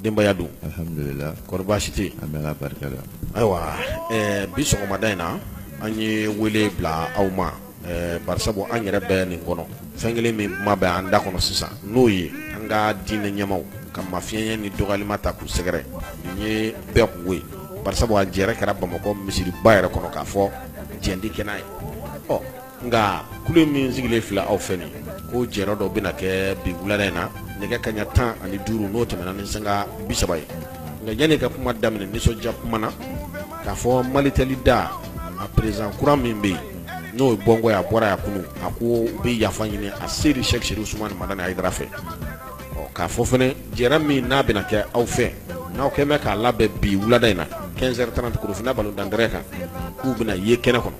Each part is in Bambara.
Denbaya dun alihamdulilahi kɔri baasi tɛ an bɛ barika la ayiwa bi sɔgɔmada in na an ye wele bila aw ma barisabu an yɛrɛ bɛ nin kɔnɔ fɛn kelen min kuma bɛ an da kɔnɔ sisan n'o ye an ka diinɛ ɲɛmaaw ka mafiɲɛya ni dɔgɔyali ma ta k'u sɛgɛrɛ nin ye bɛɛ kunko ye barisabu a jɛrɛ kɛra bamakɔ misiriba yɛrɛ kɔnɔ k'a fɔ jɛn ti kɛ n'a ye nka kulu min sigilen filɛ aw fɛ nin ko jɛrɛ dɔ bɛna kɛ bi wulada in na nɛgɛ kaɲa tan ani duuru n'o tɛmɛna ni sanga bi saba ye nka yanni ka kuma daminɛ nisɔndiya kuma na k'a fɔ malitɛli da a président kura min bɛ yen n'o ye bɔnkɔ ye a bɔra yan kunun a ko u bɛ yafa ɲini aseyidi Cheick Chérif Ousmane Madani Haidara fɛ k'a fɔ fɛnɛ jɛrɛ min n'a bɛna kɛ aw fɛ n'aw kɛlen bɛ k'a labɛn bi wulada in na quinze heures trente Korofina balontan tɛrɛn kan k'u bɛna ye kɛnɛ kɔnɔ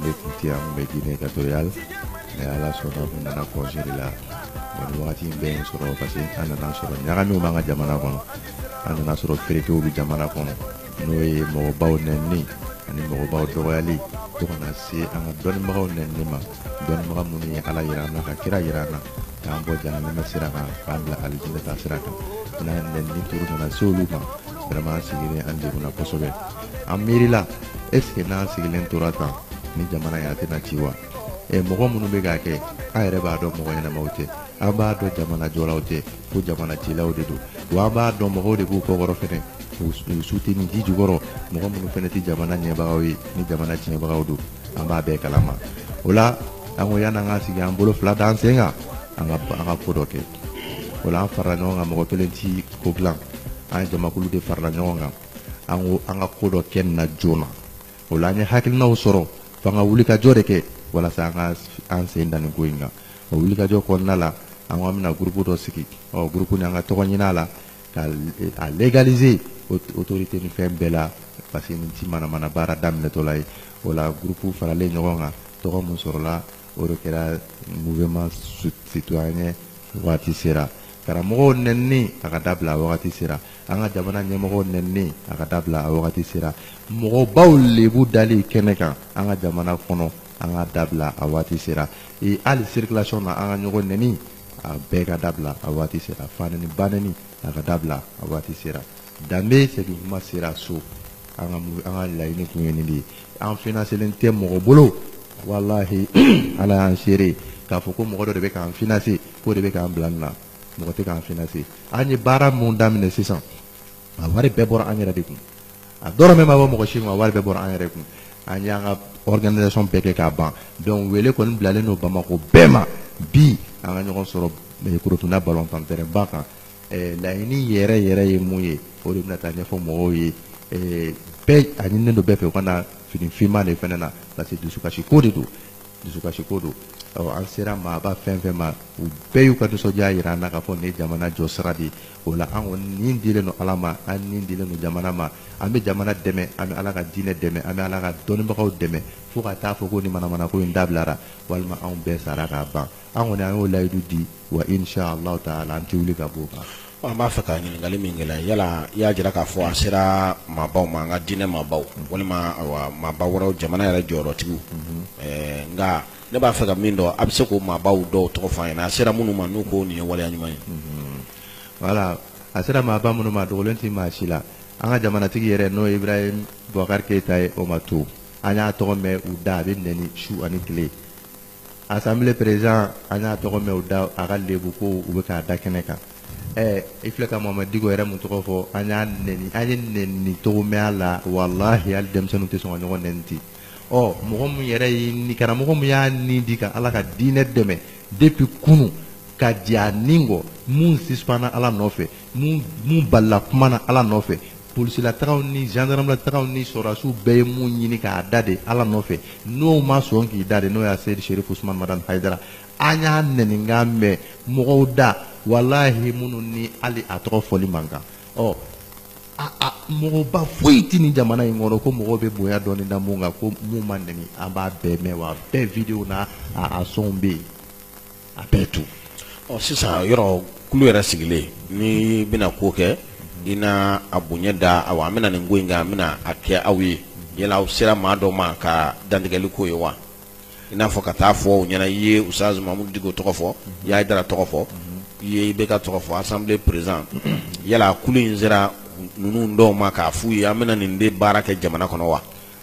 ne kun tɛ yan n bɛ Guinée équatoriale mais ala sɔnna n nana congé de la nin wagati in bɛɛ ye sɔrɔ parce que an nana sɔrɔ ɲagamiw b'an ka jamana kɔnɔ an nana sɔrɔ feerekew bɛ jamana kɔnɔ n'o ye mɔgɔbaw nɛnini ani mɔgɔbaw dɔgɔyali fo ka na se an ka dɔnnibagaw nɛnini ma dɔnnibaga minnu ye ala yira an na ka kira yira an na k'an bɔ jahanama sira kan k'an bila alijinɛ ta sira kan n'a nɛnini tour nana se olu ma vraiment an sigilen an degunna kosɛbɛ an miirila est ce que n'an sigilen tora tan ni jamana in a tɛna ci wa ɛ mɔgɔ minnu bɛ k'a kɛ an yɛrɛ b'a dɔn mɔgɔ ɲɛnamaw tɛ an b'a dɔn jamana jɔlaw tɛ ko jamana cilaw de don wa an b'a dɔn mɔgɔw de b'u kɔkɔrɔ fɛnɛ u soutenir ji jukɔrɔ mɔgɔ minnu fɛnɛ tɛ jamana ɲɛbagaw ye ni jamana tiɲɛbagaw don an b'a bɛɛ kalama o la an ko yan'an ka sigi an bolo fila d'an sen kan an ka an ka ko dɔ kɛ o la an farala ɲɔgɔn kan mɔgɔ kelen ti ko dilan an ye jamakulu de farala ɲɔgɔn kan an ko an ka ko dɔ kɛ nin na joona o la an ye hakilinaw sɔrɔ f'an ka wulikajɔ de kɛ walasa an ka an sen da nin ko in kan o wulikajɔ kɔnɔna la an ko an bɛna gurupu dɔ sigi o gurupu nin an ka tɔgɔ ɲini a la ka a légaliser autorité ni fɛn bɛɛ la parce que nin ti manamana baara daminɛtɔla ye o la gurupu faralen ɲɔgɔn kan tɔgɔ mun sɔrɔla o de kɛra mouvement citoyen waati sera karamɔgɔw nɛnini a ka dabila a wagati sera an ka jamana ɲɛmɔgɔw nɛnini a ka dabila a wagati sera mɔgɔbaw lebu dali kɛnɛ kan an ka jamana kɔnɔ an k'a dabila a waati sera ee hali circulation na an ka ɲɔgɔn nɛni a bɛɛ ka dabila a waati sera fanɛni banɛni a ka dabila a waati sera danbe segin kuma sera so an ka an ka laɲini kun ye nin de ye an financelen tɛ mɔgɔ bolo walahi ala y'an seere k'a fɔ ko mɔgɔ dɔ de bɛ k'an financer k'o de bɛ k'an bila nin na mɔgɔ tɛ k'an financer an ye baara mun daminɛ sisan a wari bɛɛ bɔra an yɛrɛ de kun a dɔrɔmɛ ma bɔ mɔgɔ si kun a wari bɛɛ bɔra an yɛrɛ kun an y'an ka organisation bɛɛ kɛ k'a ban donc wele kɔni bilalen don bamakɔ bɛɛ ma bi an ka ɲɔgɔn sɔrɔ Korofina balontan tɛrɛnba kan ɛɛ laɲini yɛrɛ yɛrɛ ye mun ye o de bɛna taa ɲɛfɔ mɔgɔw ye ɛɛ bɛɛ a ɲininen don bɛɛ fɛ u ka na fini finman de fɛnɛ na parce que dusukasi ko de don dusukasi ko don ɔ an sera maaba fɛn fɛn ma u bɛɛ y'u ka nisɔndiya yira an na k'a fɔ nin ye jamana jɔ sira de ye o la an kɔni ni dilen don ala ma an ni dilen don jamana ma an bɛ jamana dɛmɛ an bɛ ala ka diinɛ dɛmɛ an bɛ ala ka dɔnnibagaw dɛmɛ fo ka taa fɔ ko nin manamanako in dabilara walima anw bɛɛ sara k'a ban an kɔni an y'o layidu di wa insha Allah taala an tɛ wuli ka b'o kan. An b'a fɛ ka ɲininkali min k'i la yala i y'a jira k'a fɔ a sera maabaw ma an ka diinɛ maabaw walima maaba wɛrɛw jamana yɛrɛ jɔyɔrɔtigiw nka ne b'a fɛ ka min dɔn a bɛ se k'o maabaw dɔw tɔgɔ fɔ an ɲɛna a sera minnu ma n'u ko nin ye waleya ɲuman ye. Voilà a sera maaba minnu ma a dogolen tɛ maa si la an ka jamanatigi yɛrɛ n'o ye Ibrahim Boubacar Keita ye o ma to an y'a tɔgɔ mɛn u da a bɛ nɛni su ani tile. assemblée président an y'a tɔgɔ mɛn u da a ka lebu ko u bɛ k'a da kɛnɛ kan ɛ i filɛ ka Mamudu Diko yɛrɛ min tɔgɔ fɔ an y'a nɛn an ye nɛni cogo mɛn a la walahi hali denmisɛnninw tɛ sɔn ka ɲɔgɔn nɛni ten ɔ mɔgɔ min yɛrɛ ye ni karamɔgɔ min y'a ni di ka ala ka diinɛ dɛmɛ depuis kunun ka diya ni kɔ min sisipanna ala nɔfɛ min balila kuma na Ala nɔfɛ polisilataw ni zandaramataw ni sɔrɔdasiw bɛɛ ye mun ɲini k'a da de Ala nɔfɛ n'o ma sɔn k'i da de n'o ye Aseyidi Serif Usumani Madani Hayidara an y'a nɛninkan mɛn mɔgɔw da walahi minnu ni hali a tɔgɔ fɔli man kan ɔ a a mɔgɔba foyi tɛ nin jamana in kɔnɔ ko mɔgɔw bɛ bonya dɔɔni da mun kan ko mun ma nɛni an b'a bɛɛ mɛn wa bɛɛ videow n'a a a sɔnw bɛ yen. a bɛɛ to ɔ sisan yɔrɔ kulu yɛrɛ sigilen n'i bɛna ko kɛ i na a bonya da aw an bɛna nin ko in kan an bɛna a kɛ aw ye yala aw sera maa dɔ ma ka dantigɛli k'o ye wa i n'a fɔ ka taa fɔ u ɲɛna i ye Usazu Mamudu Diko tɔgɔ fɔ i ye Hayidara tɔgɔ fɔ i ye IBK tɔgɔ fɔ assemblée président yala kulu in sera ninnu dɔw ma k'a f'u ye an bɛna nin de baara kɛ jamana kɔnɔ wa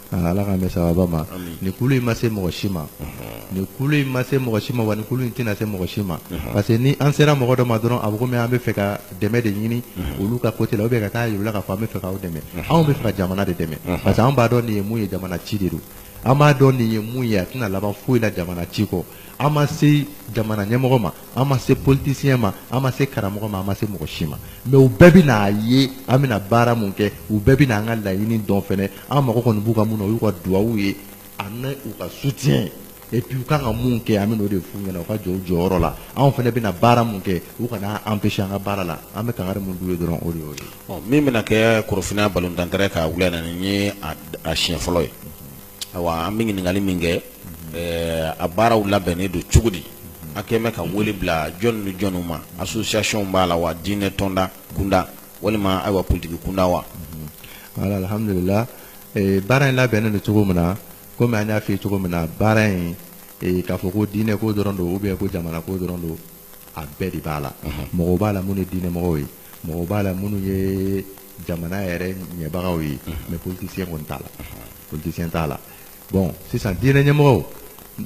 Ala k'an bɛn sababu ma nin kulu in ma se mɔgɔ si ma nin kulu in ma se mɔgɔ si ma wa nin kulu in tɛna se mɔgɔ si ma parce que ni an sera mɔgɔ dɔ ma dɔrɔn a bɛ komi an bɛ fɛ ka dɛmɛ de ɲini olu ka côté la ou bien ka taa yir'u la k'a fɔ an bɛ fɛ k'aw dɛmɛ anw bɛ fɛ ka jamana de dɛmɛ parce que an b'a dɔn nin ye mun ye jamana ci de don an b'a dɔn nin ye mun ye a tɛna laban foyi la jamana ci kɔ an ma se jamana ɲɛmɔgɔ ma an ma se politicien ma an ma se karamɔgɔ ma an ma se mɔgɔ si ma mais u bɛɛ bɛn'a ye an bɛna baara mun kɛ u bɛɛ bɛn'an ka laɲini dɔn fɛnɛ an mago kɔni b'u ka mun na o y'u ka duwawu ye ani u ka soutien et puis u kan ka mun kɛ an bɛn'o de f'u ɲɛna u ka jɔ u jɔyɔrɔ la anw fɛnɛ bɛna baara mun kɛ u kana an empêcher an ka baara la an bɛ kangari mun d'u ye dɔrɔn o de y'o ye. Ɔ min bɛna kɛ Korofinna balontan terrain kan wula in na nin ye a siɲɛ fɔlɔ ye. ayiwa an bɛ ɲininkali min kɛ ɛɛ a baaraw labɛnnen don cogo di a kɛlen bɛ ka wele bila jɔn ni jɔnw ma association b'a la wa diinɛ tɔnda kunda walima ayiwa politiki kunda wa voilà alhamdulila ee baara in labɛnnen don cogo min na komi an y'a f'i ye cogo min na baara in ee k'a fɔ ko diinɛ ko dɔrɔn don ou bien ko jamana ko dɔrɔn don a bɛɛ de b'a la mɔgɔw b'a la minnu ye diinɛ mɔgɔw ye mɔgɔw b'a la minnu ye jamana yɛrɛ ɲɛbagaw ye mais politicien kɔni t'a la politicien t'a la bon sisan diinɛ ɲɛmɔgɔ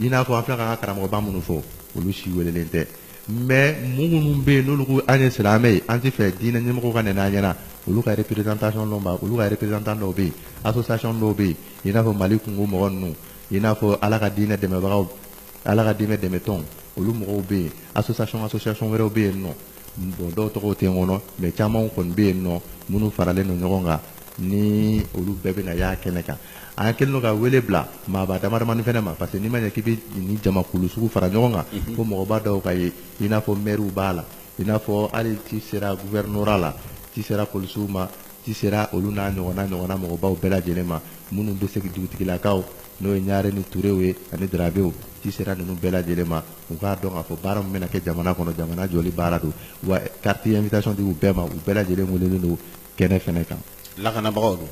i n'a fɔ an filɛ ka karamɔgɔba minnu fɔ olu si welelen tɛ mais mun minnu bɛ yen n'olu ko an ye silamɛ ye an tɛ fɛ diinɛ ɲɛmɔgɔw ka nɛni an ɲɛna olu ka représentation dɔw b'a olu ka représentant dɔw bɛ yen association dɔw bɛ yen i n'a fɔ mali kunko mɔgɔ ninnu i n'a fɔ ala ka diinɛ dɛmɛbagaw ala ka diinɛ dɛmɛtɔn olu mɔgɔw bɛ yen association association wɛrɛw bɛ yen nɔ Bon dɔw tɔgɔ tɛ n kɔnɔ mais caman kɔni bɛ yen nɔ minnu faralen don ɲɔgɔn kan ni olu bɛɛ bɛna y'a kɛnɛ kan an kɛlen don ka wele bila maaba damadamani fana ma parce que n'i ma ɲɛ k'i bɛ nin jamakulu sugu fara ɲɔgɔn kan fo mɔgɔba dɔw ka ye i n'a fɔ maires b'a la i n'a fɔ hali ci sera gouvernorat la ci sera polisiw ma ci sera olu n'a ɲɔgɔnna ɲɔgɔnna mɔgɔbaw bɛɛ lajɛlen ma minnu bɛ segin dugutigilakaw n'o ye ɲare ni turew ye ani darabew ci sera ninnu bɛɛ lajɛlen ma u k'a dɔn k'a fɔ baara min bɛna kɛ jamana kɔnɔ jamana jɔli baara don wa carte invitation di u bɛɛ ma u bɛɛ lajɛlen welelen don kɛnɛ fɛnɛ kan lakanabagaw dun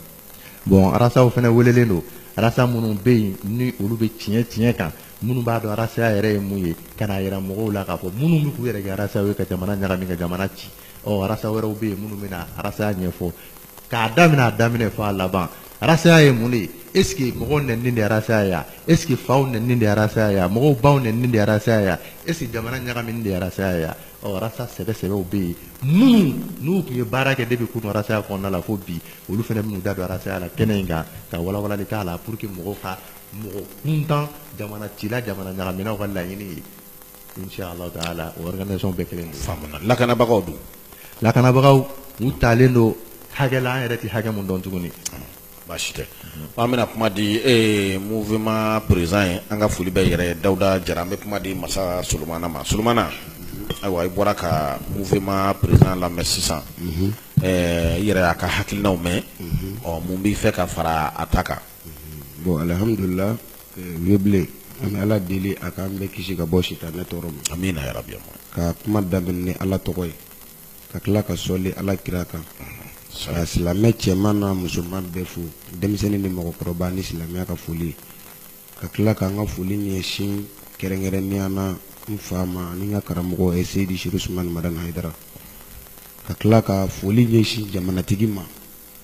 bon arasaw fɛnɛ welelen don arasa minnu bɛ yen ni olu bɛ tiɲɛ tiɲɛ kan minnu b'a dɔn arasaya yɛrɛ ye mun ye ka n'a yira mɔgɔw la k'a fɔ minnu bɛ k'u yɛrɛ kɛ arasaw ye ka jamana ɲagami ka jamana ci ɔ arasa wɛrɛw bɛ yen minnu bɛna arasaya ɲɛfɔ k'a daminɛ a daminɛ fo a laban arasaya ye mun de ye est-ce que mɔgɔw nɛnini de arasaya ya est-ce que faw nɛnini de arasaya ya mɔgɔw baw nɛnini de arasaya ya est-ce que jamana ɲagamini de arasaya ya ɔ arasa sɛbɛsɛbɛw bɛ yen minnu n'u tun ye baara kɛ depuis kunu arasaya kɔnɔna la fo bi olu fana bɛn'u da don arasaya la kɛnɛ in kan ka walawalali k'a la pour que mɔgɔw ka mɔgɔ kuntan jamana cila jamana ɲagaminaw ka laɲini ye lakanabagaw dun lakanabagaw u talen don hakɛ la an yɛrɛ tɛ hakɛ min dɔn tuguni baasi tɛ an bɛna kuma di e mouvement président ye an ka foli bɛ yɛrɛ dawuda jara an bɛ kuma di masa solomana ma solomana ayiwa i bɔra ka mouvement président lamɛn sisan i yɛrɛ y'a ka hakilinaw mɛn ɔ mun b'i fɛ ka fara a ta kan Bon alihamdulila awuzubila an bɛ ala deli a k'an bɛɛ kisi ka bɔ sitanɛ tɔɔrɔ ma amina yarabi ka kuma daminɛ ni ala tɔgɔ ye ka tila ka sɔli ala kira kan ka silamɛ cɛman n'a musoman bɛɛ fo denmisɛnnin ni mɔgɔkɔrɔba ni silamɛya ka foli ka tila k'an ka foli ɲɛsin kɛrɛnkɛrɛnnenya na n fa ma ani n ka karamɔgɔ ye Seyid Cherif Ousmane Madani Haidara ka tila ka foli ɲɛsin jamanatigi ma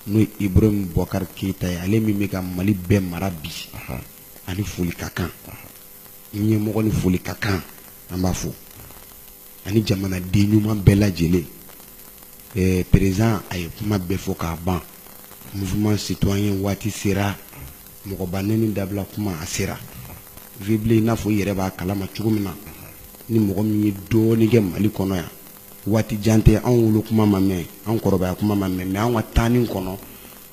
n'o ye Ibrahim Boubacar Keita ye ale min bɛ ka Mali bɛɛ mara bi ani foli ka kan ɲɛmɔgɔ ni foli ka kan an b'a fo ani jamanaden ɲuman bɛɛ lajɛlen ɛɛ président a ye kuma bɛɛ fɔ k'a ban mouvement citoyen waati sera mɔgɔba neni dabila kuma a sera Vieux Bilen i n'a fɔ i yɛrɛ b'a kalama cogo min na ni mɔgɔ min ye dɔɔnin kɛ Mali kɔnɔ yan waati jan tɛ anw wolo kuma ma mɛn an kɔrɔbaya kuma ma mɛn mais an ka taani kɔnɔ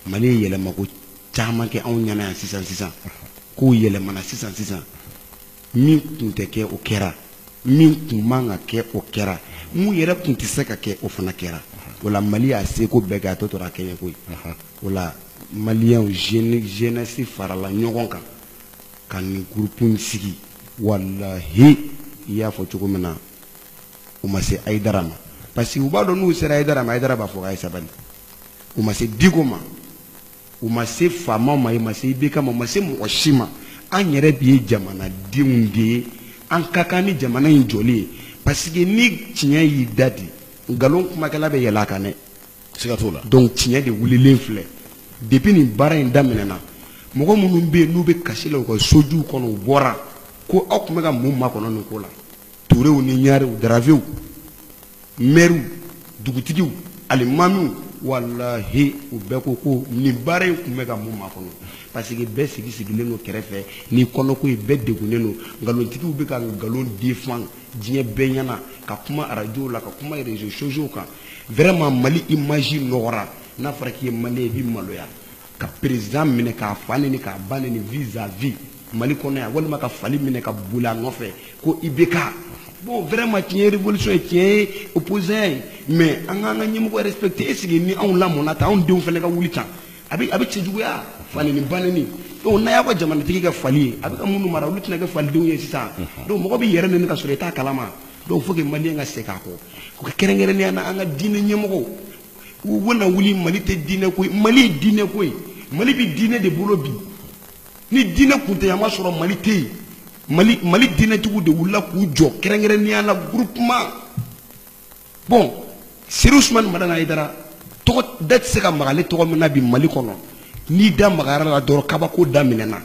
mali ye yɛlɛmako caman kɛ anw ɲɛna yan sisan sisan kow yɛlɛmana sisan sisan min tun tɛ kɛ o kɛra min tun man ka kɛ o kɛra mun yɛrɛ tun tɛ se ka kɛ o fana kɛra o la mali y'a seko bɛɛ kɛ a tɔ tora a kɛɲɛko ye o la maliyɛnw jeunesse farala ɲɔgɔn kan ka nin groupe in sigi walahi i y'a fɔ cogo min na u ma se ayidara ma parce que u b'a dɔn n'u sera ayidara ma ayidara b'a fɔ a ye sabali u ma se diko ma u ma se faamaw ma u ma se ibk ma u ma se mɔgɔ si ma an yɛrɛ bi ye jamanadenw de ye an ka kan ni jamana in jɔli ye parce que ni tiɲɛ y'i da di nkalon kumakɛla bɛ yɛlɛ a kan dɛ siga t'o la donc tiɲɛ de wulilen filɛ depuis nin baara in daminɛna mɔgɔ minnu bɛ yen n'u bɛ kasi la u ka sojuw kɔnɔ u bɔra ko aw tun bɛ ka mun makɔnɔ nin ko la turew ni ɲarew daravew mɛriw dugutigiw alimamiw walahi u bɛɛ ko ko nin baara in tun bɛ ka mun makɔnɔ parce que bɛɛ sigi sigilen don kɛrɛfɛ ni kɔnɔko ye bɛɛ degunnen don nkalontigiw bɛ ka nkalon défend diɲɛ bɛɛ ɲɛna ka kuma arajow la ka kuma réseaux sociaux kan vraiment mali image nɔgɔra n'a fɔra k'i ye maliyɛn i bɛ maloya ka président minɛ k'a fa neni k'a ba neni vis à vis mali kɔnɔ yan walima ka fali minɛ ka boli a nɔfɛ ko ibk bon vraiment tiɲɛ ye révolution ye tiɲɛ ye opposant ye mais an k'an ka ɲɛmɔgɔ respecter est-ce que ni anw lamɔna tan anw denw fana ka wuli tan a bɛ a bɛ cɛjuguya fa neni ba neni donc n'a y'aw ka jamanatigi kɛ fali ye a bɛ ka minnu mara olu tɛna kɛ falidenw ye sisan donc mɔgɔ b'i yɛrɛ neni ka sɔrɔ i t'a kalama donc faut que maliyɛn ka segin a kɔ o ka kɛrɛnkɛrɛnnenya na an ka diinɛ ɲɛmɔgɔw u bɛna wuli mali tɛ diinɛ ko ye mali ye diinɛ ko ye mali bɛ diinɛ de bolo bi ni diinɛ kun tɛ yan b'a sɔrɔ mali tɛ yen mali mali diinɛtigiw de wulila k'u jɔ kɛrɛnkɛrɛnnenya la groupement bon seri usumani madani ayidara tɔgɔ da tɛ se ka maga ale tɔgɔ min na bi mali kɔnɔ n'i da magara a la dɔrɔn kabako daminɛna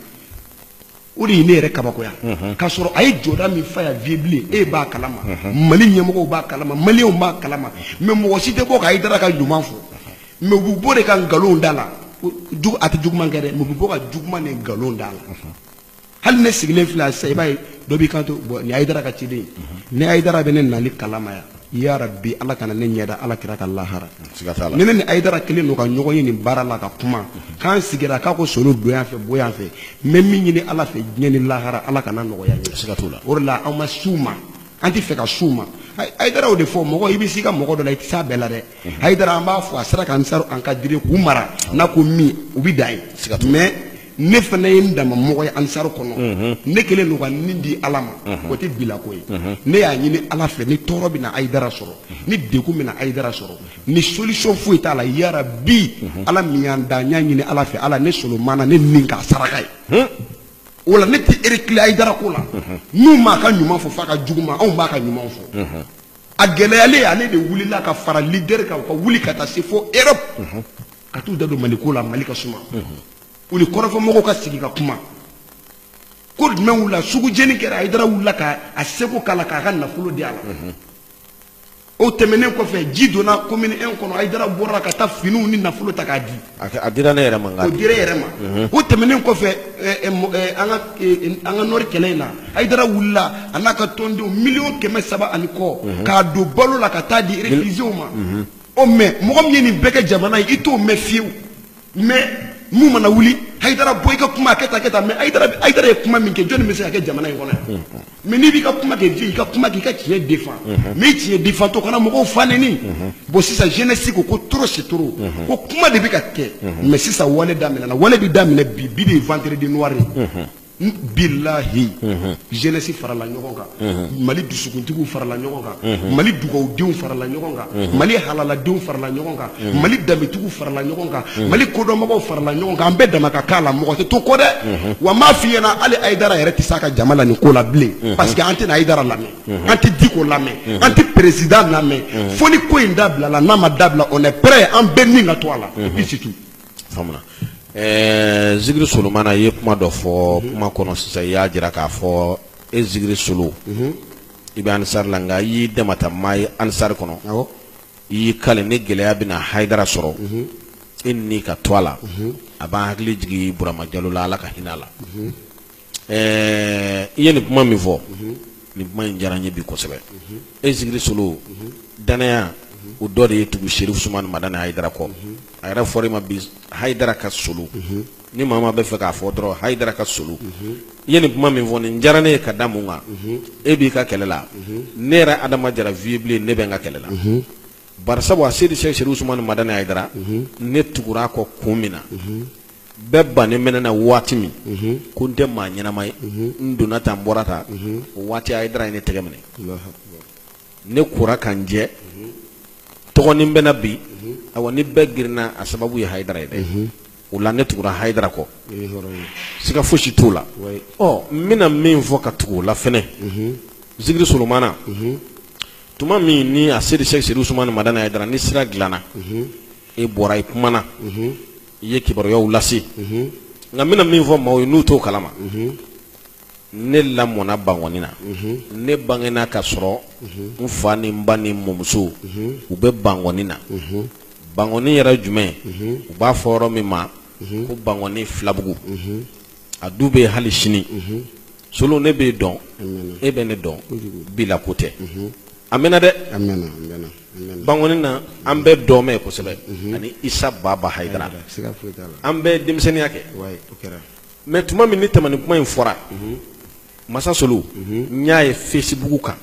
o de ye ne yɛrɛ kabakoya k'a sɔrɔ a ye jɔda min fa yan Vieux Bilen e b'a kalama mali ɲɛmɔgɔw b'a kalama maliyɛnw b'a kalama mais mɔgɔ si tɛ bɔ ka ayidara ka ɲuman fɔ mais u bɛ bɔ de ka nkalon da a la a tɛ juguman kɛ dɛ mais u bɛ bɔ ka juguman ni nkalon da a la hali ne sigilen filɛ sa i b'a ye dɔ b'i kanto bon nin ayidara ka ciden ni ayidara bɛ ne nali kalama yan ya rabbi ala kana ne ɲɛ da ala kira kan lahara siga t'a la ni ne ni ayidara kelen don ka ɲɔgɔn ye nin baara la ka kuma k'an sigira k'a ko solo don yan fɛ bɔ yan fɛ n bɛ min ɲini ala fɛ diɲɛ ni lahara ala kan'a nɔgɔya n ye siga t'o la o de la an ma s'u ma an tɛ fɛ ka s'u ma Ay- ayidara o de fɔ mɔgɔ i bɛ s'i ka mɔgɔ dɔ la i tɛ s'a bɛɛ la dɛ ayidara an b'a fɔ a sera k'ansaruw encadrer k'u mara n'a ko min u bɛ dan yen Siga t'o la. mais ne fana ye n dama mɔgɔ ye ansaru kɔnɔ mhm. ne kelen don ka n ni di ala ma mhm. o tɛ bilako ye mhm. ne y'a ɲini ala fɛ ni tɔɔrɔ bɛna ayidara sɔrɔ ni degun bɛna ayidara sɔrɔ ni solution foyi t'a la ya rabbi ala min y'an da n y'a ɲini ala fɛ ala ne solomana ne ni k'a saraka ye o la ne tɛ reculer ayidara ko la n'u m'a ka ɲuman fɔ f'a ka juguman anw b'a ka ɲuman fɔ a gɛlɛyalen ale de wulila ka fara lidɛriw kan u ka wuli ka taa se fo erɔpu ka t'u da don mali ko la mali ka suma u ni kɔrɔfɔmɔgɔw ka sigi ka kuma ko jumɛn wulila sugu jeni kɛra ayidara wulila ka a seko k'a la k'a ka nafolo di a la o tɛmɛnen kɔfɛ ji donna komini en kɔnɔ ayidara bɔra ka taa finiw ni nafolo ta k'a di a dira ne yɛrɛ ma o dira e yɛrɛ ma o tɛmɛnen kɔfɛ eh, eh, eh, an ka nɔri kɛlɛ in na ayidara wulila a n'a ka tɔndenw miliyɔn kɛmɛ saba ani kɔ k'a don balo la ka t'a di réfugiés ma ɔ mais mɔgɔ min ye nin bɛɛ kɛ jamana ye i t'o mɛn fiyewu mais mun mana wuli hayidara bɔ i ka kuma a kɛ tan kɛ tan mais hayidara hayidara ye kuma min kɛ jɔni bɛ se k'a kɛ jamana in kɔnɔ yan mais n'i b'i ka kuma kɛ i ka kuma k'i ka tiɲɛ defan mais i tiɲɛ defan to kana mɔgɔw fa neni bon sisan jeunesse ko ko trop c'est trop ko kuma de bɛ ka kɛ mais sisan wale daminɛna wale bɛ daminɛ bi bi de ye vendredi noir ye billahi jeunesse farala ɲɔgɔn kan mali dusukuntigiw farala ɲɔgɔn kan mali dugawudenw farala ɲɔgɔn kan mali halaladenw farala ɲɔgɔn kan mali danbetigiw farala ɲɔgɔn kan mali kodɔnbagaw farala ɲɔgɔn kan an bɛɛ dama ka kan a la mɔgɔ tɛ to kɔ dɛ wa n b'a fɔ i ɲɛna hali ayidara yɛrɛ tɛ se a ka jama la nin ko la bilen parce que an tɛna ayidara lamɛn an tɛ diko lamɛn an tɛ président lamɛn fo nin ko in dabilala n'a ma dabila on est prêt an bɛɛ ni ka to a la i c'est tout faamuna ɛɛ zikiri solomana i ye kuma dɔ fɔ mhm. kuma kɔnɔ sisan i y'a jira k'a fɔ e zikiri solo mhm. i bɛ anisari la nka i y'i damata maa ye anisari kɔnɔ i y'i kali ni gɛlɛya bɛna hayidara sɔrɔ mhm. e ni ka to a la a b'an hakili jigin burama jalo la ala ka hinɛ a la Ɛɛ i ye nin kuma min fɔ nin kuma in diyara n ye bi kosɛbɛ e zikiri solo dannaya o dɔ de y'i tugu serifu sumani madani hayidara kɔ a yɛrɛ fɔra i ma bi hayidara ka solo ni maa bɛ fɛ k'a fɔ dɔrɔn hayidara ka solo i ye nin kuma min fɔ nin diyara ne ye ka da mun kan e b'i ka kɛlɛ la ne yɛrɛ adama jara vieux bilen ne bɛ n ka kɛlɛ la bari sabu asedi sɛki serifu usumani madani hayidara ne tugura a kɔ kun min na bɛɛ bannen bɛ ne na waati min ko n tɛ maa ɲɛnama ye n donna tan n bɔra tan o waati hayidara ye ne tɛgɛ minɛ ne kora ka n jɛ tɔgɔnin bɛ n na bi awa ni bɛɛ girinna a sababu ye hayidara ye dɛ o la ne tugura hayidara kɔ siga fosi t'o la ɔ n bɛna min fɔ ka tugu o la fɛnɛ zikiri solomana tuma min ni asedi sɛki serifu usumani madani hayidara ni sira dilanna e bɔra i kumana i ye kibaruyaw lase nka n bɛna min fɔ maaw ye n'u t'o kalama ne lamɔna bangɔni na ne bangena ka sɔrɔ n fa ni n ba ni n mɔmuso u bɛ bangɔni na bangɔni yɛrɛ jumɛn u b'a fɔ yɔrɔ min ma ko bangɔni filabugu a du bɛ hali sini solo ne b'e dɔn e bɛ ne dɔn bi la ko tɛ a mɛnna dɛ bangɔni na an bɛ dɔmɛ kosɛbɛ ani isa baba hayidara an bɛ denmisɛnninya kɛ mais tuma min ni tamani kuma in fɔra masa solo n y'a ye fesibugu kan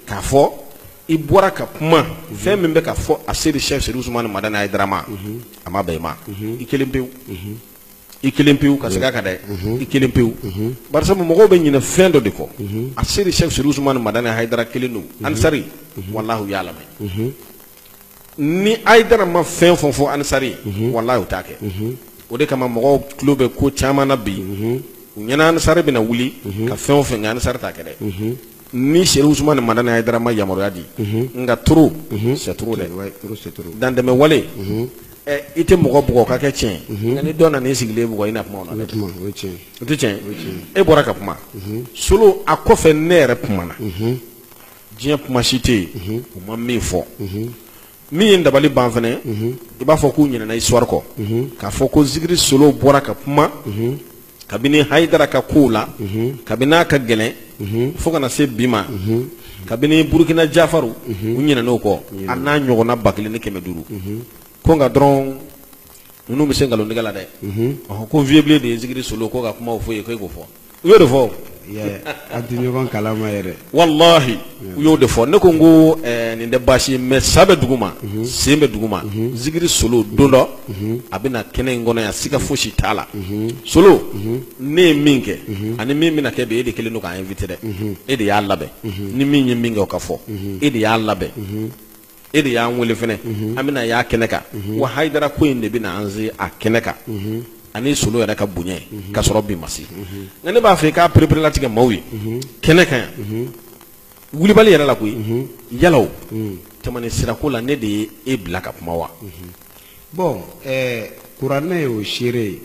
k'a fɔ i bɔra ka kuma fɛn min bɛ ka fɔ asedi sɛki serifu usumani madani hayidara ma a ma bɛn i ma i kelen pewu i kelen pewu ka segin a kan dɛ i kelen pewu parce que mɔgɔw bɛ ɲinɛ fɛn dɔ de kɔ asedi sɛki serifu usumani madani hayidara kelen don ansari walahi u y'a lamɛn ni hayidara ma fɛn o fɛn fɔ ansari walahi u t'a kɛ o de kama mɔgɔw tulo bɛ ko caman na bi u ɲɛna ansari bɛna wuli ka fɛn o fɛn kɛ ansari t'a kɛ dɛ ni serifu usumani madani hayidara ma yamaruya di nka trop c'est trop dɛ dantɛmɛ wale i tɛ mɔgɔ bugɔ ka kɛ tiɲɛ nka ni dɔ nana i sigilen bugɔ i na kuma o la dɛ e bɔra ka kuma solo a kɔfɛ ne yɛrɛ kumana diɲɛ kuma si tɛ yen u ma min fɔ min ye dabali ban fɛnɛ i b'a fɔ k'u ɲinɛna histoire kɔ k'a fɔ ko zikiri solo bɔra ka kuma kabini hayidara ka kow la kabini a ka gɛlɛn fo ka na se bi ma kabini burukina jafaru u ɲinɛna o kɔ a n'a ɲɔgɔnna ba kelen ni kɛmɛ duuru ko nka dɔrɔn ninnu bɛ se nkalontigɛ la dɛ ɔhɔn ko vieux blen de ye zikiri solo ko ka kumaw fɔ i ye ko e k'o fɔ u y'o de fɔ an tɛ ɲɔgɔn kalama yɛrɛ walahi u y'o de fɔ ne ko n ko eh, nin tɛ baasi ye mais sa bɛ dugu ma mhm. sen bɛ dugu ma mhm. zikiri solo don dɔ mhm. a bɛ na kɛnɛ in kɔnɔ yan siga fosi t'a la solo ne ye min kɛ ani min bɛna kɛ bi e de kelen don k'a invité dɛ e de y'a labɛn ni min ye min kɛ o ka fɔ e de y'a labɛn e de y'an wele fɛnɛ an bɛna y'a kɛnɛ kan wa hayidara ko in de bɛna an se a kɛnɛ kan ani solo yɛrɛ ka bonya ka sɔrɔ bi ma se nka ne b'a fɛ i k'a pereperelatigɛ maaw ye kɛnɛ kan yan wulibali yɛrɛ la koyi yalaw tɛmɛni sirako la ne de ye e bila ka kuma wa bɔn ɛɛ kuranɛ y'o seere ye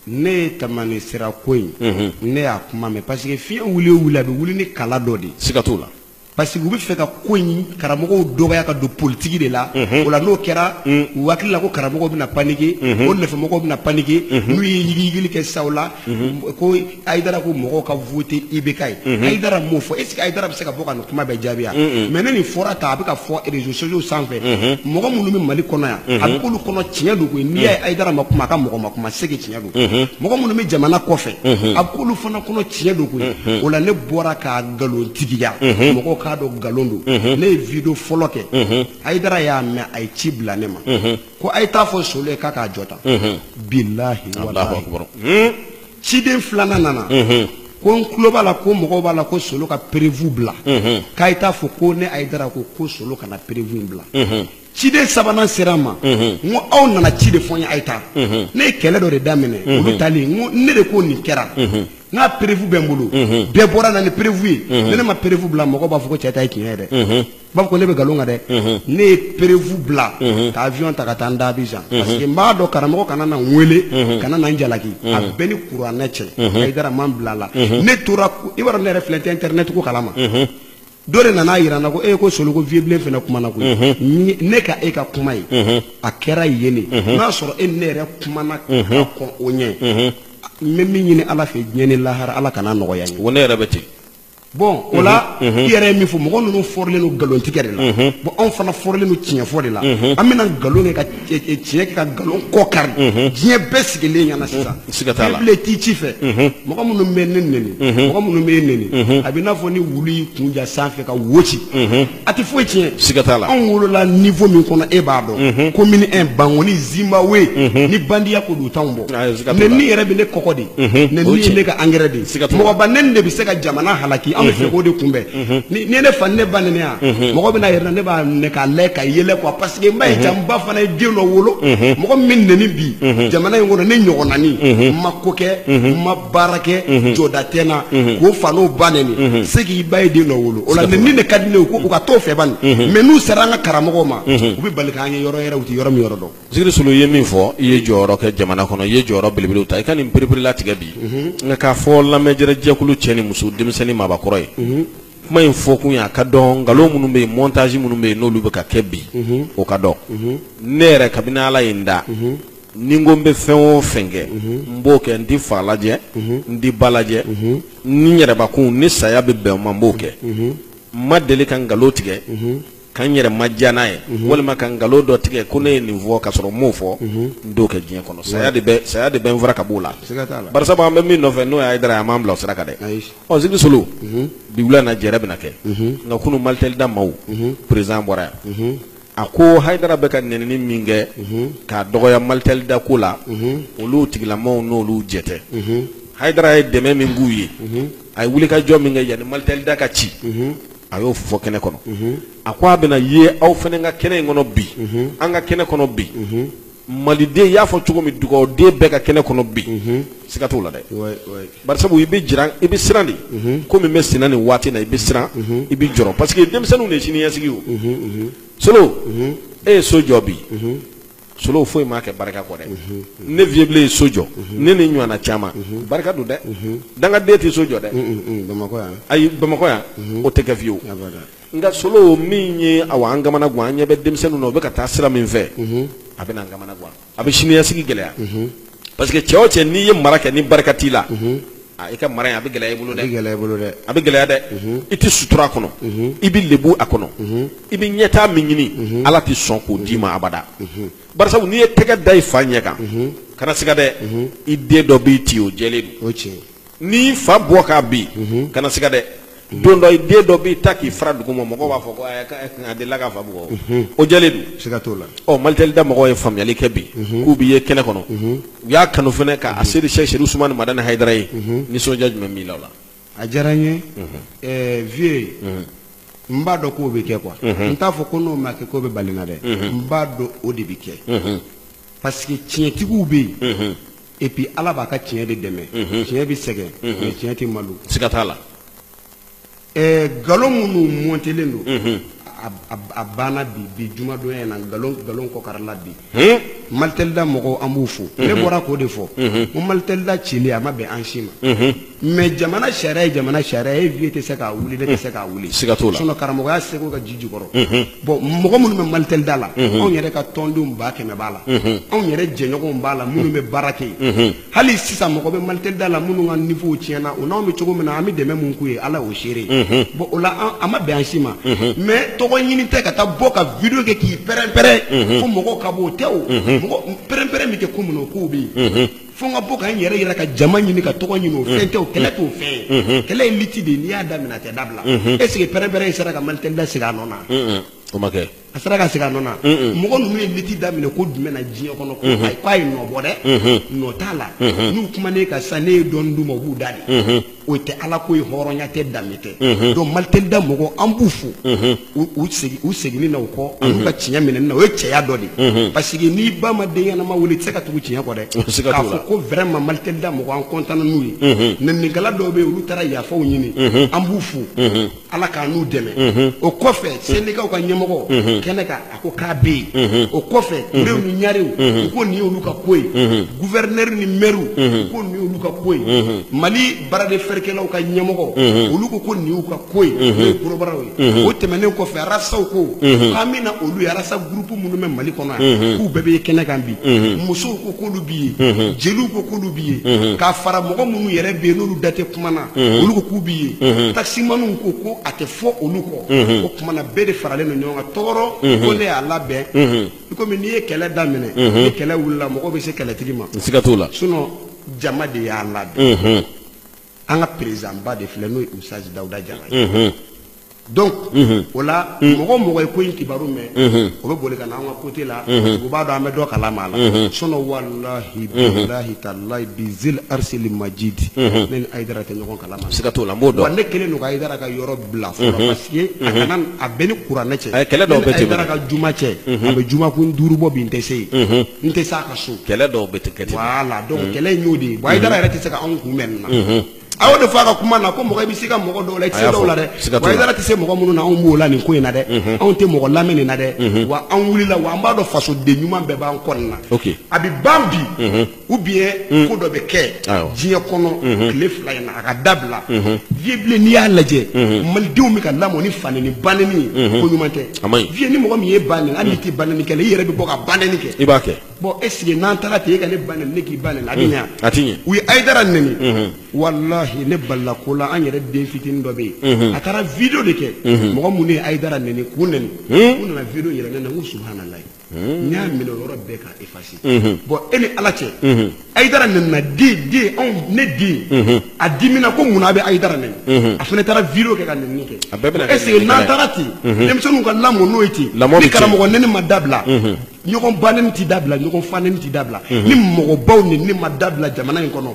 ne ye tɛmɛni sirako in ne y'a kuma mɛn parce que fiɲɛ wuli o wuli a bɛ wuli ni kala dɔ de ye siga t'o la parce que u bɛ fɛ ka ko in karamɔgɔw dɔgɔya ka don politiki de la o la n'o kɛra u hakili la ko karamɔgɔw bɛna panike o nɔfɛmɔgɔw bɛna panike n'u ye yigiyigili kɛ sa o la ko hayidara ko mɔgɔw ka vote IBK ye hayidara m'o fɔ est ce que hayidara bɛ se ka bɔ ka nin kuma bɛɛ jaabi wa mais ne nin fɔra tan a bɛ ka fɔ réseaux sociaux sanfɛ mɔgɔ minnu bɛ mali kɔnɔ yan a bɛ k'olu kɔnɔ tiɲɛ don koyi n'i y'a ye hayidara ma kuma a ka mɔgɔ ma kuma c'est que mɔgɔ minnu bɛ jamana kɔfɛ a bɛ k'olu fana kɔnɔ tiɲɛ don koyi o la ne bɔra k'a nkalontigiya mɔgɔ k'a dɔn nkalon don ne ye video fɔlɔ kɛ hayidara y'a mɛn a ye ci bila ne ma ko a ye t'a fɔ solo ye k'a k'a jɔ tan bilayi ciden filanan nana ko n tulo b'a la ko mɔgɔ b'a la ko solo ka preuve bila k'a ye t'a fɔ ko ne hayidara ko ko solo kana preuve bila ciden sabanan sera n ma n ko aw nana ci de fɔ n ye a ye taa ne ye kɛlɛ dɔ de daminɛ olu talen n ko ne de ko nin kɛra n ka preuve bɛ n bolo bɛɛ bɔra na ni preuve ye ne ne ma preuve bila mɔgɔ b'a fɔ ko cɛ ta ye tiɲɛ ye dɛ b'a fɔ ko ne bɛ nkalon kan dɛ ne ye preuve bila ka avion ta ka taa n da Abidjan parce que n b'a dɔn karamɔgɔ kana na n wele kana na n jalaki a bɛ n ni kuranɛ cɛ Hayidara ma n bila a la ne tora i b'a dɔn ne yɛrɛ filɛ n tɛ internet ko kalama. dɔ de nana a yira n na ko e ko solo ko vieux bilen fana kumana koyi mhm. ne ka e ka kuma ye mhm. a kɛra yen de mhm. n'a sɔrɔ e ne yɛrɛ kumana ka kɔn o ɲɛ n bɛ min ɲini ala fɛ diɲɛ ni lahara ala kana nɔgɔya n ye o ne yɛrɛ bɛ ten bɔn o la i yɛrɛ ye min fɔ mɔgɔ ninnu fɔrilen don nkalontigɛ de la bɔn anw fana fɔrilen don tiɲɛ fɔ de la an bɛna nkalon kɛ ka tiɲɛ kɛ ka nkalon kɔ kari diɲɛ bɛɛ sigilen ɲɛna sisan ci fɛ mɔgɔ minnu bɛ ne neni mɔgɔ minnu bɛ e neni a bɛ n'a fɔ ni wulu y'i kun ja sanfɛ ka wo ci a tɛ foyi tiɲɛ anw wolola niveau min kɔnɔ e b'a dɔn commune un bankɔni zimbabwe ni bandiya ko dɔn t'anw bɔ neni yɛrɛ bɛ ne kɔgɔ de neni ye ne ka engrais de mɔgɔba neni de bɛ se ka jamana halaki an bɛ fɛ k'o de kunbɛn Mhm. n'i ye ne fa ni ne ba neni yan mhm. mɔgɔ bɛna yɛrɛ ne b'a minɛ k'a lajɛ ka yɛlɛ quoi parce que n b'a ye mhm. jaa n ba fana ye den dɔ wolo mɔgɔ min neni bi jamana in kɔnɔ ne ɲɔgɔnani n ma ko kɛ n ma baara kɛ jɔda tɛ n na k'o fa n'o ba neni c'est que i ba ye den dɔ wolo o la neni de ka di ne ye u ka t'o fɛ bani mais n'u sera an ka karamɔgɔw ma u bɛ bali k'an ye yɔrɔ yɛrɛ u tɛ yɔrɔ min yɔrɔ dɔn Zikiri Solo i ye min fɔ i ye jɔyɔrɔ kɛ jamana kɔnɔ i ye jɔyɔrɔ belebele ta i ka nin pereperelatigɛ bi nka k'a fɔ lamɛnjɛrɛ jɛkulu cɛ ni muso denmisɛnnin maabakɔrɔ ye kuma in fɔ kun ye a ka dɔn nkalon minnu bɛ yen mɔntaji minnu bɛ yen n'olu bɛ ka kɛ bi o ka dɔn ne yɛrɛ kabini ala ye n da ni n ko n bɛ fɛn o fɛn kɛ n b'o kɛ n tɛ fa lajɛ n tɛ ba lajɛ ni yɛrɛbakun ni saya bɛ bɛn o ma n b'o kɛ n ma deli ka nkalon tigɛ Ka n yɛrɛ madiya n'a ye walima ka nkalon dɔ tigɛ ko ne ye nin fɔ ka sɔrɔ n m'o fɔ n t'o kɛ diɲɛ kɔnɔ saya de bɛ saya de bɛ n fara ka b'o la siga t'a la barisabu an bɛ min nɔfɛ n'o ye Hayidara ye a m'an bila o sira kan dɛ ayi ɔ Zikiri Solo bi wula in na jɛrɛ bɛna kɛ nka kunu Malitɛlida maaw président bɔra yan a ko Hayidara bɛ ka nɛnini min kɛ k'a dɔgɔya Malitɛlida ko la olu tigilamaaw n'olu jɛ tɛ Hayidara ye dɛmɛ min k'u ye a ye wulikajɔ min kɛ yanni Malitɛlida ka ci a y'o fɔ kɛnɛ kɔnɔ a ko a bɛna ye aw fana ka kɛnɛ in kɔnɔ bi an ka kɛnɛ kɔnɔ bi maliden y'a fɔ cogo min dugawuden bɛɛ ka kɛnɛ kɔnɔ bi siga t'o la dɛ barisabu i bɛ jiran i bɛ siran de ko min bɛ senna nin waati na i bɛ siran i bɛ jɔrɔ parce que denmisɛnninw de ye siniɲɛsigi o solo e ye so jɔ bi solo foyi m'a kɛ barika kɔ dɛ ne viyebilen ye so jɔ ne ni ɲɔgɔnna caman barika don dɛ dangaden tɛ so jɔ dɛ bamakɔ yan ayi bamakɔ yan o tɛ kɛ fiyewu abada nka solo min ye aw an kamana gan an ɲɛ bɛ denmisɛnninw na u bɛ ka taa sira min fɛ a bɛna an kamana gan a bɛ siniɲɛsigi gɛlɛya parce que cɛ o cɛ n'i ye mara kɛ ni barika t'i la ah, i ka mara in a bɛ gɛlɛya i bolo dɛ gɛlɛya bolo dɛ a bɛ gɛlɛya dɛ i tɛ sutura a kɔnɔ i bɛ lebu a kɔnɔ i bɛ ɲɛtaa min ɲini ala tɛ sɔn k'o d'i ma abada barisabu n'i ye tɛgɛ da i fa ɲɛ kan kana siga dɛ i den dɔ b'i ti o jɛlen don o tiɲɛ N'i fa bugɔ k'a bin kana siga dɛ don dɔ i den dɔ b'i ta k'i fara dugu ma mɔgɔw b'a fɔ k'a delila k'a fa bugɔ o jɛlen don siga t'o la ɔ Malitɛlida mɔgɔw ye faamuyali kɛ bi k'u bɛ ye kɛnɛ kɔnɔ u y'a kanu fana ka Aseyidi Serifu Usumani Madani Hayidara ye nisɔndiya jumɛn b'i la o la a diyara n ye vieux n b'a dɔn k'o bɛ kɛ quoi n t'a fɔ ko n'o ma kɛ k'o bɛ bali n na dɛ n b'a dɔn o de bɛ kɛ parce que tiɲɛtigiw bɛ yen et puis ala b'a ka tiɲɛ de dɛmɛ mhm. tiɲɛ bɛ sɛgɛn mais tiɲɛ tɛ malo siga t'a la nkalon minnu mɔntelen don mhm. a banna bi bi jumadonya in na nkalon nkalon kɔkarila bi hmm? malitɛlida mɔgɔw an b'u fo ne bɔra k'o de fɔ ko malitɛlida cili a ma bɛn an si ma mais jamana sariya ye jamana sariya ye vieux tɛ se k'a wuli ne tɛ se k'a wuli siga t'o la sinon karamɔgɔya seko ka ji jukɔrɔ bɔn mɔgɔ minnu bɛ Malitel da la anw yɛrɛ ka tɔndenw ba kɛmɛ b'a la anw yɛrɛ jɛɲɔgɔn b'a la minnu bɛ baara kɛ yen hali sisan mɔgɔ bɛ Malitel da la minnu ka niveau tiɲɛna u n'anw bɛ cogo min na an bɛ dɛmɛ min k'u ye ala y'o seere bon o la a ma bɛn an si ma mais tɔgɔ ɲini tɛ ka taa bɔ ka vidéo kɛ k'i pɛrɛnpɛrɛn fo mɔgɔw ka bɔ o tɛ o mɔgɔ pɛrɛnpɛrɛn min kɛ ko minnu k'u bɛ yen fo n ka bɔ ka n yɛrɛ yira ka jama ɲini ka tɔgɔ ɲini o fɛn tɛ o kɛlɛ t'o fɛn ye kɛlɛ ye liti de n'i y'a daminɛ a tɛ dabila est ce que pɛrɛnpɛrɛn in sera ka Malitel da segin a nɔ na o ma kɛ a sera ka segin a nɔ na mɔgɔ ninnu ye liti daminɛ ko jumɛn na diɲɛ kɔnɔ ko a ye nɔ bɔ dɛ nɔ t'a la n'u kumana ne kan sisan ne ye dɔɔni d'u ma u b'u da de o tɛ ala ko ye hɔrɔnya tɛ danbe tɛ donc Malitel da mɔgɔ an b'u fo u seginni na u kɔ an'u ka tiɲɛ minɛni na o ye cɛya dɔ de parce que n'i ba ma den ɲɛnama wolo i tɛ se ka tugu tiɲɛ kɔ dɛ k'a fɔ ko vraiment Malitel da mɔgɔ an content n'u ye nɛninikɛla dɔw bɛ yen olu taara yafaw ɲini an b'u fo Ala k'an n'u dɛmɛ o kɔfɛ syndicatw ka ɲɛmɔgɔ kɛnɛ kan a ko k'a bɛ yen o kɔfɛ Turew ni Ɲarew u ko nin y'olu ka ko ye gouverneur ni mairew u ko nin y'olu ka ko ye mali bara de feerekɛlaw ka ɲɛmɔgɔ olu ko ko nin y'u ka ko ye n'o ye kɔrɔbɔrɔw ye o tɛmɛnen kɔfɛ arasaw ko an bɛna na olu arasa groupe minnu bɛ mali kɔnɔ yan k'u bɛɛ bɛ kɛnɛ kan bi musow ko k'olu bɛ yen jeliw ko k'olu bɛ yen ka fara mɔgɔ minnu yɛrɛ bɛ yen n'olu da tɛ kuma na mhm. olu ko k'u bɛ yen mhm. taximaniw ko ko a tɛ fɔ olu kɔ mhm. o tuma na bɛɛ de faralen don ɲɔgɔn kan tɔgɔ don ko ne y'a labɛn i komi n'i ye kɛlɛ daminɛ ni kɛlɛ wulila mɔgɔw bɛ se kɛlɛtigi ma siga t'o la sinon jama de y'a labɛn an ka président ba de filɛ n'o ye ustazi dawuda jara ye donc o la mɔgɔ o mɔgɔ ye ko in kibaru mɛn o bɛ boli ka na an ka côté la u b'a dɔn an bɛ dɔ kalama a la sinon walahi bilahi talahi bizil arsili majidi ne ni ayidara tɛ ɲɔgɔn kala ma siga t'o la n b'o dɔn wa ne kelen don ka ayidara ka yɔrɔ bila fɔlɔ parce que a kana a bɛ n ni kuranɛ cɛ kɛlɛ dɔw bɛ tɛmɛ ayidara ka juma cɛ a bɛ jumakun duuru bɔ bi n tɛ se yen n tɛ se a ka so kɛlɛ dɔw bɛ kɛ ten voilà donc kɛlɛ in y'o de ye bon ayidara yɛrɛ tɛ se ka anw kunbɛn nin na a y'o de fɔ a ka kuma na ko mɔgɔ i bɛ se ka mɔgɔ dɔw la i tɛ se dɔw la dɛ wa ayidara tɛ se mɔgɔ minnu na anw b'o la nin ko in na dɛ anw tɛ mɔgɔ lamɛn nin na dɛ wa an wulila wa an b'a dɔn fasoden ɲuman bɛɛ b'an kɔ nin na a bɛ ban bi ou bien ko dɔ bɛ kɛ diɲɛ kɔnɔ tile fila in na a ka dabila vieux Blé n'i y'a lajɛ malidenw bɛ ka lamɔ ni fanɛni banɛni ye ko ɲuman tɛ vieux ni mɔgɔ min ye ba nɛni hali n'i tɛ banɛni kɛ i yɛrɛ bɛ bɔ ka banɛni kɛ i b'a kɛ Bon est-ce que n'an taara ten e ka ne banɛni ne k'i banɛni a bɛ ɲɛ a tɛ ɲɛ u ye ayidara nɛni walayi ne balila ko la an yɛrɛ den fitinin dɔ bɛ yen a taara vidéo de kɛ mɔgɔ minnu ye ayidara nɛni k'u nɛni u nana vidéo yira ne na n ko subhanalayi n y'a minɛ yɔrɔ bɛɛ ka effacer bon e ni ala cɛ ayidara nɛnina den den anw ne den a dimina ko munna a bɛ ayidara nɛni a fana taara vidéo kɛ ka nɛnini kɛ est-ce que n'an taara ten denmisɛnninw ka lamɔ n'o ye ten ni karamɔgɔ nɛni ma dabila ɲɔgɔn banɛni tɛ dabila ɲɔgɔn fanɛni tɛ dabila ni mɔgɔbaw nɛnini ma dabila jamana in kɔnɔ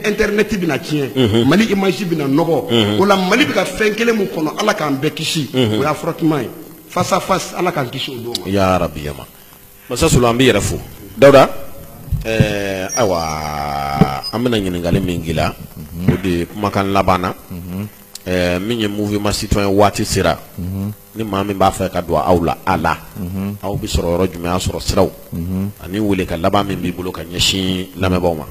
internet bɛna tiɲɛ mali image bɛna nɔgɔ o la mali bɛ ka fɛn kelen min kɔnɔ ala k'an bɛɛ kisi o y'a frottement ye face à face ala k'an kisi o don ma ya rabi yama masa sulu an b'i yɛrɛ fo dawuda ɛɛ ayiwa an bɛna ɲininkali min k'i la o de ye kumakan laban na ɛɛ min ye mouvement citoyen waati sera ni maa min b'a fɛ ka don aw la a la aw bɛ sɔrɔ yɔrɔ jumɛn a sɔrɔ siraw ani weelekan laban min b'i bolo ka ɲɛsin lamɛnbaaw ma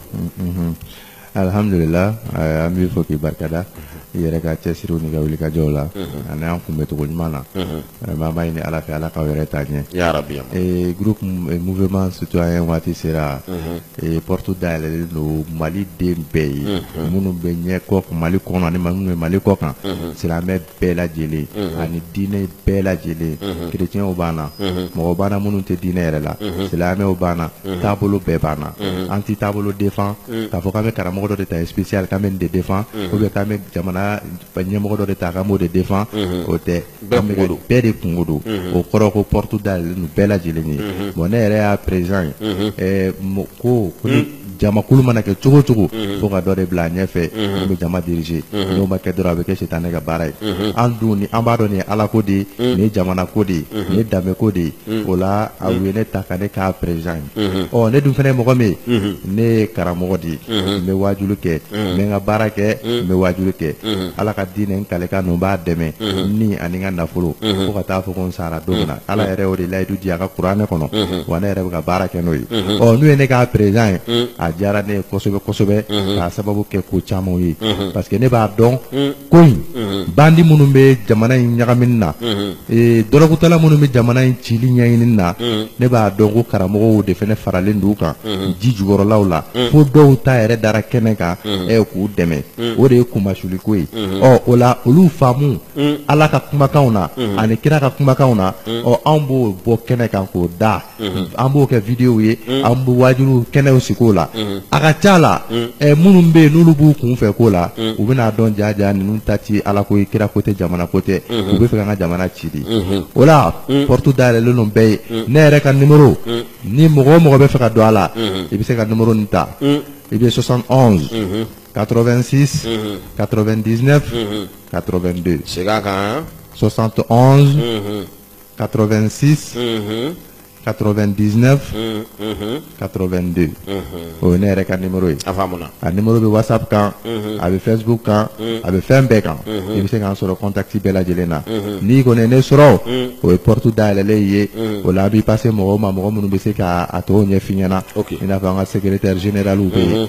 alihamdulila an b'i fo k'i barikada i yɛrɛ ka cɛsiriw n'i ka wulikajɔw la ani an kunbɛncogo ɲuman na vraiment an b'a ɲini ala fɛ ala k'aw yɛrɛ taa ɲɛ groupe mouvement citoyen waati sera porte dayɛlɛlen don mali den bɛɛ ye minnu bɛ ɲɛ kɔ mali kɔnɔ ani minnu bɛ mali kɔ kan silamɛ bɛɛ lajɛlen ani diinɛ bɛɛ lajɛlen chrétienw b'an na mɔgɔ b'an na minnu tɛ diinɛ yɛrɛ la silamɛw b'an na taabolo bɛɛ b'an na an tɛ taabolo défend k'a fɔ k'an bɛ karamɔgɔ dɔ de ta spécial k'an bɛ nin de défend ou bien k'an bɛ jamana ɲɛmɔgɔ dɔ de ta k'an b'o de défend o tɛ an bɛ bɛɛ de kunko don o kɔrɔ ko porte dayɛlɛlen don bɛɛ lajɛlen ye bon ne yɛrɛ y'a président ye ko jamakulu mana kɛ cogo cogo fo ka dɔ de bila a ɲɛfɛ min bɛ jama diriger n'o ma kɛ dɔrɔn a bɛ kɛ sitanɛ ka baara ye an dun ni an b'a dɔn nin ye ala ko de ye nin ye jamana ko de ye nin ye danbe ko de ye o la a u ye ne ta ka ne k'a président ye ɔ ne dun fana ye mɔgɔ min ye ne ye karamɔgɔ de ye n bɛ waajuli kɛ n bɛ n ka baara kɛ n bɛ waajuli kɛ ala ka diinɛ n kalekan ninnu b'a dɛmɛ ni ani n ka nafolo fo ka taa fɔ ko n sa ara don min na ala yɛrɛ y'o de layidu di a ka kuranɛ kɔnɔ wa ne yɛrɛ bɛ ka baara kɛ n'o ye ɔ n'u ye ne k'a président ye a diyara ne ye kosɛbɛ kosɛbɛ k'a sababu kɛ ko caman ye parce que ne b'a dɔn ko in bandi minnu bɛ jamana in ɲagamini na dɔrɔgutala minnu bɛ jamana in cili ɲɛɲini na ne b'a dɔn ko karamɔgɔw de fana faralen don u kan ji jukɔrɔlaw la fo dɔw ta yɛrɛ dara kɛnɛ kan k'u dɛmɛ o de ye kunmasuliko ye ɔ o la olu faamu ala ka kumakanw na ani kira ka kumakanw na ɔ anw b'o bɔ kɛnɛ kan k'o da an b'o kɛ videow ye an bɛ wajuli kɛnɛw sigi o la a ka ca la minnu bɛ yen n'olu b'u kun fɛ ko la u bɛn'a dɔn jaja ninnu ta tɛ ala ko ye kira ko tɛ jamana ko tɛ u bɛ fɛ k'an ka jamana ci de o la porte dayɛlɛlen don bɛɛ ye ne yɛrɛ ka numéro ni mɔgɔ o mɔgɔ bɛ fɛ ka don a la i bɛ se ka numéro nin ta i bɛ 71 86 99 82 segin a kan 71 86 99 82 o ye ne yɛrɛ ka numéro ye a faamuna a numéro bɛ whatsapp kan a bɛ facebook kan a bɛ fɛn bɛɛ kan i bɛ se k'an sɔrɔ contact bɛɛ lajɛlen na n'i kɔni ye ne sɔrɔ o ye porte dayɛlɛlen ye o la an b'i passer mɔgɔw ma mɔgɔ minnu bɛ se ka a tɔw ɲɛf'i ɲɛna i n'a fɔ an ka secrétaire général bɛ yen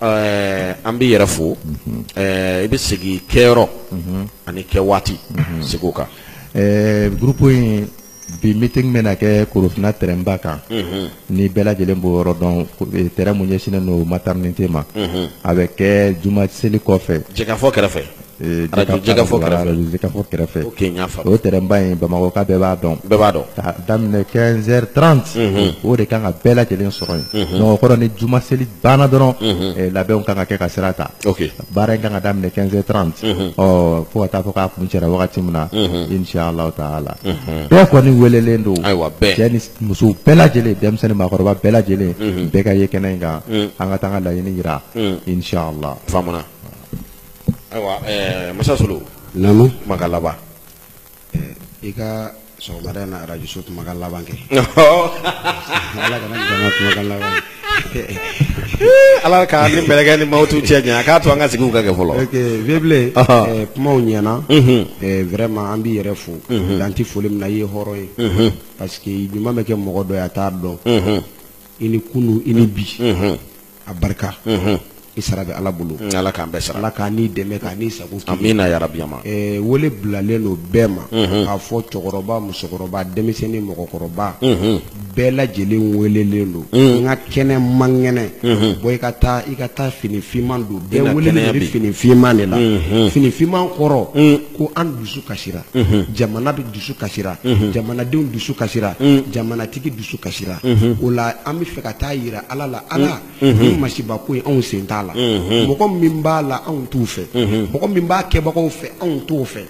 Ɛɛ an b'i yɛrɛ fo i bɛ segin kɛyɔrɔ ani kɛ waati seg'o kan groupe in bi meeting bɛna kɛ korofinna terrain ba kan ni bɛɛ lajɛlen b'o yɔrɔ dɔn terrain mun ɲɛsinnen don maternité ma a bɛ kɛ juma seli kɔfɛ jɛkafɔ kɛrɛfɛ jɛkafɔ kɛrɛfɛ o terrain ba in bamakɔka bɛɛ b'a dɔn ka daminɛ 15h30 o de kan ka bɛɛ lajɛlen sɔrɔ yen donc o kɔrɔ ni juma seli banna dɔrɔn labɛnw kan ka kɛ ka sira ta baara in kan ka daminɛ 15h30 fo ka taa fɔ k'a kuncɛra wagati min na inchallah taala bɛɛ kɔni welelen don cɛ ni muso bɛɛ lajɛlen denmisɛnnin maakɔrɔba bɛɛ lajɛlen bɛɛ ka ye kɛnɛ in kan an ka taa an ka laɲini jira inchallah Ayiwa ɛɛ Musa Solo. Naamu. Kumakan laban. Ɛɛ i ka sɔgɔmada in na radio so kumakan laban kɛ. Ɔhɔɔ! Ala kana ni jama kumakan laban ye. Hii Ala ka an ni mɛlɛkɛ ni mawutu cɛ janya a k'a to an ka sigiw ka kɛ fɔlɔ. Ok Vieux Blen. Ɔhɔɔ! Ɛɛ kumaw ɲɛna. Unhun! Ɛɛ vraiment an b'i yɛrɛ fo. Unhun! Dan tɛ foli min na i ye hɔrɔn ye. Unhun! Parce que ɲuman bɛ kɛ mɔgɔ dɔ ye a t'a dɔn. Unhun! I ni kunun i ni bi. Unhun! a barika i sara bɛ ala bolo ala k'an bɛɛ sara ala k'an dɛmɛ k'an sago amiina yarabi ama wele bilalen don bɛɛ ma k'a fɔ cɛkɔrɔba musokɔrɔba denmisɛnnin mɔgɔkɔrɔba bɛɛ lajɛlen welelen don n ka kɛnɛ man kɛnɛ bɔ i ka taa fini finman don bɛɛ welelen bɛ fini finman de la fini finman kɔrɔ ko an dusu kasira jamana bɛɛ dusu kasira jamanadenw dusu kasira jamanatigi dusu kasira o la an bɛ fɛ ka taa jira ala la ala ni masiba ko ye anw sen t'a la mɔgɔ min b'a la anw t'u fɛ mɔgɔ min b'a kɛbagaw fɛ anw t'o fɛ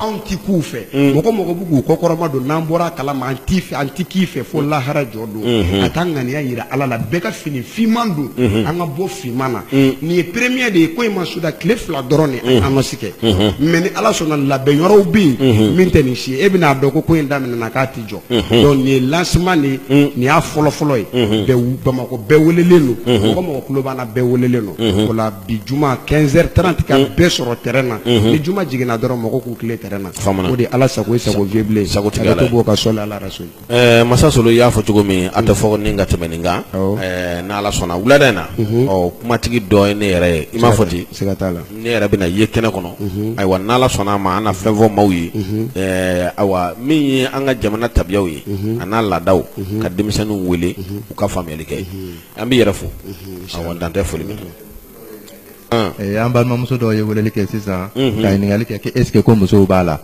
anw tɛ k'u fɛ mɔgɔ mɔgɔ bɛ k'u kɔkɔrɔma don n'an bɔra kala ma an t'i fɛ an tɛ k'i fɛ fo lahara jɔ don ka taa ŋaniya jira ala la bɛɛ ka fini finman don an ka bɔ finman na nin ye premier de ye ko in ma suda tile fila dɔrɔn de an ma si kɛ mais ni ala sɔnna labɛn yɔrɔw bɛ yen min tɛ nin si ye e bɛn'a dɔn ko ko in daminɛna k'a tɛ jɔ donc nin ye lancement de ye nin y'a fɔlɔfɔlɔ ye bɛɛ wu- bamakɔ bɛɛ welelen don mɔgɔ mɔgɔ tulo b'an na bɛɛ welelen don o la bi juma 15 heures 30 ka bɛɛ sɔrɔ terrain na ni juma jiginna dɔrɔn mɔgɔ k'u tilen terrain na Faamu na. o de ye ala sago ye sago vieux bilen Sago tigi Ala Ala ye. to b'o ka sɔli ala rasuli Eh, masa solo i y'a fɔ cogo min a tɛ fɔ ni ka tɛmɛ nin kan Awɔ. Eh, n'ala sɔnna wulada in na ɔ kumatigi dɔ ye ne yɛrɛ ye i m'a fɔ ten siga t'a la ne yɛrɛ bɛna ye kɛnɛ kɔnɔ ayiwa n' ala sɔnna a ma an na fɛn fɔ maaw ye ayiwa min ye an ka jamana tabiyaw ye a n'a laadaw ka denmisɛnninw wele u ka faamuyali kɛ an b'i yɛrɛ fo a dan tɛ foli min an balimamuso dɔw ye weleli kɛ sisan ka ɲininkali kɛ est-ce que ko musow b'a la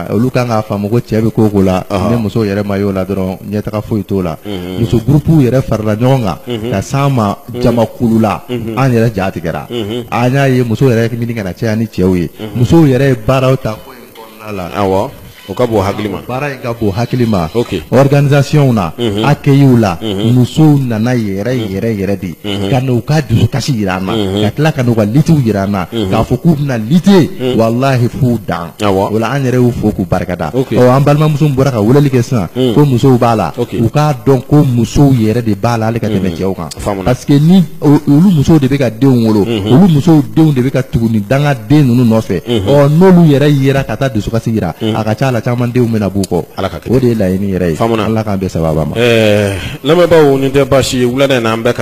Olu kan k'a faamu ko cɛ bɛ ko o ko la ni muso yɛrɛ ma y'o la dɔrɔn ɲɛtaga foyi t'o la muso groupe yɛrɛ farala ɲɔgɔn kan ka s'an ma jamakulu la an yɛrɛ ja tigɛra an y'a ye muso yɛrɛ ɲini ka na caya ni cɛw ye musow yɛrɛ ye baaraw ta ko in kɔnɔna la o ka bon hakili ma baara in ka bon hakili ma organisation na accueil la musow nana yɛrɛ yɛrɛ yɛrɛ de Mhm. ka n'u ka dusukasi jira an na mhm. ka tila ka n'u ka luttew jira an na mhm. k'a fɔ k'u bɛna lutter walahi f'u dan o la an yɛrɛ y'u fo k'u barikada ɔ an balimamuso bɔra ka weleli kɛ sisan ko musow b'a la u k'a dɔn ko musow yɛrɛ de b'a la hali ka tɛmɛ cɛw kan parce que ni olu musow de bɛ ka denw wolo olu musow denw de bɛ ka tugu nin dangaden ninnu nɔfɛ ɔ n'olu yɛrɛ yera ka taa dusukasi jira a ka ca a la caman denw bɛna b'u kɔ o de ye laɲini yɛrɛ ye ala k'an bɛɛ sababu ma lamɛnbaaw nin tɛ baasi ye wulada in na an bɛ